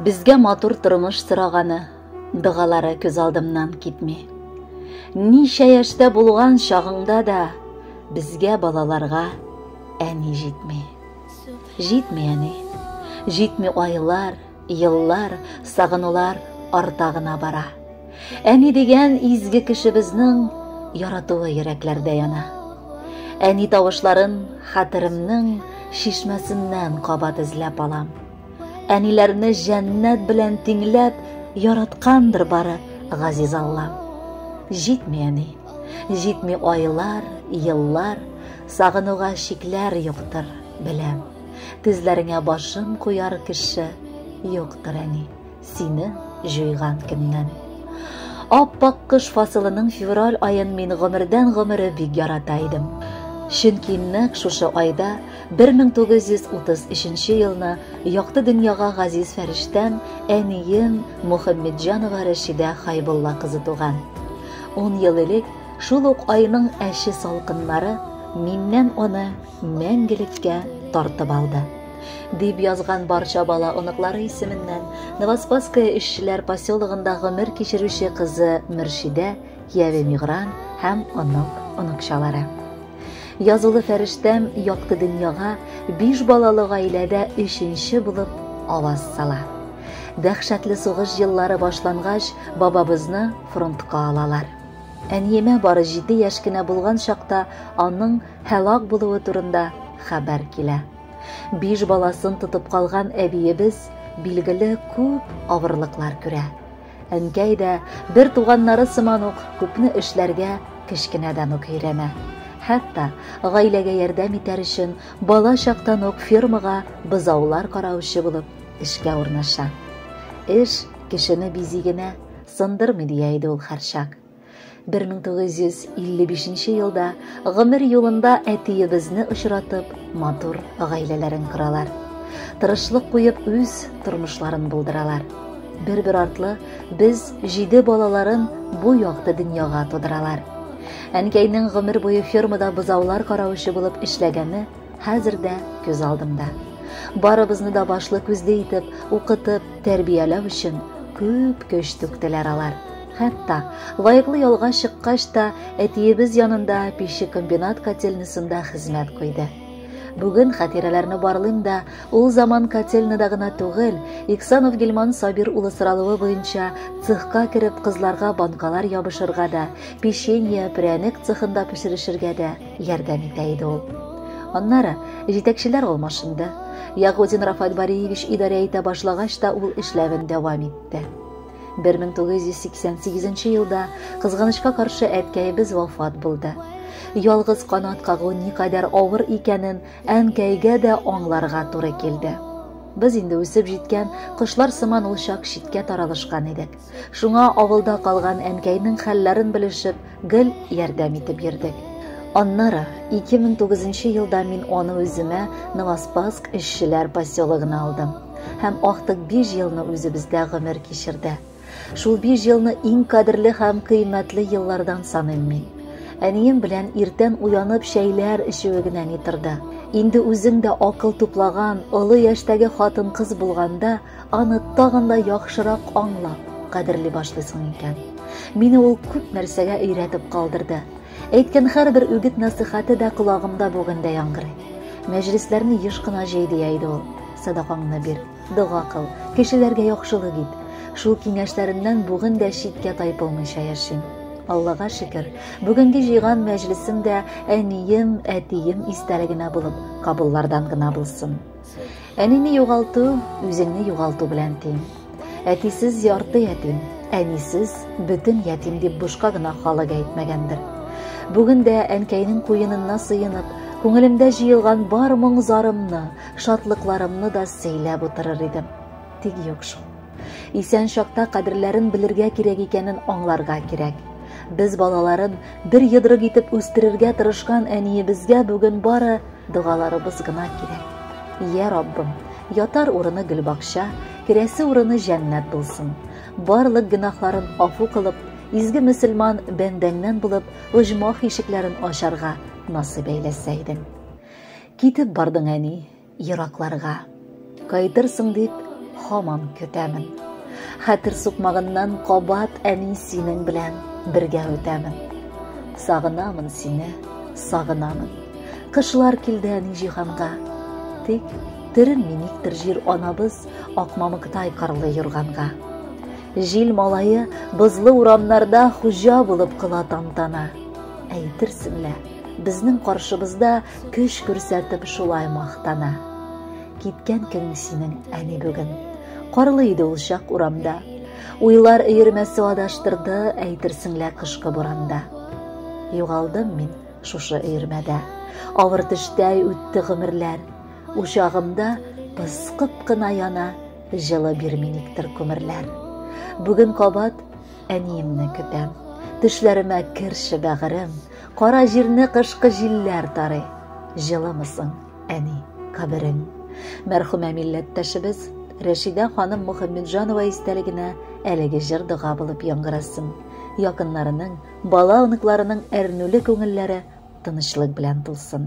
Безгә матур тормыш сораганы, дыгалары күз алдымнан китми. Ничә яшьтә булган чагыңда да безгә балаларга әни җитми. Җитми әни. Җитми айлар, Еллар, сагынулар арта гына бара. Әни дигән изге кешебезнең яратуы йөрәкләрдә яна. Әни тавышларын хәтеремнең шишмәсеннән кабат эзләп алам. Әниләрне җәннәт белән тиңләп яраткандыр бары газиз Аллам. Җитми әни, җитми айлар, еллар, сагынуга чикләр юктыр, беләм. Тезләреңә башын куяр кеше юктыр әни, сине җуйган көннән. Аппак кыш фасылының февраль аен мин гомердән гомере бик ярата идем. Чөнки нәкъ шушы айда 1933 елны якты дөньяга газиз фәрештән әнием Мухаммедҗанова Рәшидә Хайбулла кызы туган. 10 ел элек шул ук айның әче салкыннары миннән аны мәңгелеккә тартып алды. Дип язган барча бала оныклары исеменнән Новоспасское эшчеләр поселогында гомер кичерүче кызы Мөршидә, кияве Мигран һәм онык оныкчалары. Язулы фәрештәм якты дөньяга биш балалы гаиләдә өченче булып аваз сала. Дәхшәтле сугыш еллары башлангач, бабабызны фронтка алалар. Әниемә бары җиде яшь кенә булган чакта аның һәлак булуы турында хәбәр килә. Биш баласын тотып калган әбиебез билгеле күп авырлыклар күрә. Әнкәй дә бер туганнары сыман ук күпне эшләргә кечкенәдән үк өйрәнә. Хәтта гаиләгә ярдәм итәр өчен бала чактан ук фермага бозаулар караучы булып эшкә урнаша. Эш кешене бизи генә, сындырмый дия иде ул һәрчак. 1955 елда гомер юлында әтиебезне очратып, матур гаиләләрен коралар. Тырышлык куеп үз тормышларын булдыралар. Бер-бер артлы без җиде балаларын бу якты дөньяга тудыралар. Әнкәйнең гомер буе фермада бозаулар каравычы булып эшләгәне хәзер дә күз алдымда. Барыбызны да башлы күзле итеп, укытып, тәрбияләү өчен күп көч түктеләр алар. Хәтта лаеклы ялга чыккач та әтиебез янында печи комбинат котельнасында хезмәт куйды. Бүген хатирәләрне барлыйм да, ул заман котельнада гына түгел, Иксанов Гилман Сабир улы соралуы буенча цехка кереп кызларга банкалар ябышырга да, печенье, пряник цехында пешерешергә дә, ярдәм итә иде ул. Аннары җитәкчеләр алмашынды. Ягудин Рафаэль Бариевич идарә итә башлагач та ул эшләвен дәвам итте. 1988 елда кызганычка каршы әткәебез вафат булды. Ялгыз канат кагу никадәр авыр икәнен әнкәйгә дә аңларга туры килде. Без инде үсеп җиткән кошлар сыман ул чак читкә таралышкан идек. Шуңа авылда калган әнкәйнең хәлләрен белешеп, гел ярдәм итеп йөрдек. Аннары 2009 елда мин аны үземә Новоспаск эшчеләр поселогына алдым һәм актык 5 елны үзебездә гомер кичерде. Шул 5 елны иң кадерле һәм кыйммәтле еллардан саныйм мин. Әнием белән иртән уянып чәйләр эчүе генә ни торды. Инде үзең дә акыл туплаган, олы яшьтәге хатын-кыз булганда, Аны тагын да яхшырак аңлап, кадерли башлыйсың икән. Мине ул күп нәрсәгә өйрәтеп калдырды. Әйткән һәрбер үгет насыйхаты да колагымда бүген дә яңгырый. Мәҗлесләрне еш кына җәй дия иде ул. Садакаңны бир, дога кыл, кешеләргә яхшылык ит. Шул киңәшләреннән бүген дә читкә тайпылмыйча яшим. Аллага шөкер, бүгенге җыйган мәҗлесем дә әнием, әтием истәлегенә булып, кабуллардан гына булсын. Әнине югалту, үзеңне югалту белән тиң. Әтисез ярты ятим, әнисез бөтен ятим дип бушка гына халык әйтмәгәндер. Бүген дә әнкәйнең куенына сыенып, күңелемдә җыелган бар моң-зарымны, шатлыкларымны да сөйләп утырыр идем. Тик юк шул. Исән чакта кадерләрен белергә кирәк икәнен аңларга кирәк. Без балаларын бер йодрык итеп үстерергә тырышкан әниебезгә бүген бары Догаларыбыз гына кирәк. Йә, Раббым, ятар урыны гөлбакча, керәсе урыны җәннәт булсын. Барлык гөнаһларын афу кылып, изге мөселман бәндәңнән булып, оҗмах ишекләрен ачарга насыйп әйләсә идең. Китеп бардың, әни, еракларга. Кайтырсың дип һаман көтәмен. Хәтер сукмагыннан кабат әни синең белән бергә үтәмен. Сагынамын сине, сагынамын. Кышлар килде әни җиһанга. Тик төрен миниктер җир анабыз Акмамыктай карлы юрганга. Җил малае бозлы урамнарда хуҗа булып кыла тантана. Әйтерсең лә, безнең каршыбызда Көч күрсәтеп шулай мактана. Киткән көн синең әни бүген. Карлы иде ул чак урамда. Уйлар өермәсе адаштырды, әйтерсең лә кышкы буранда. Югалдым мин шушы өермәдә. Авыр төштәй үтте гомерләр. Учагымда пыскып кына яна, җылы бирми никтер күмерләр. Бүген кабат әниемне көтәм. Төшләремә керше бәгырем, Кара җирне кышкы җилләр тарый. Җылымысың, әни, каберең. Мәрхүмә милләттәшебез Рәшидә ханым Мөхәммәтҗанова истәлегенә әлеге җыр дога булып яңгырасын. Якыннарының, бала-оныкларының әрнүле күңелләре тынычлык белән тулсын.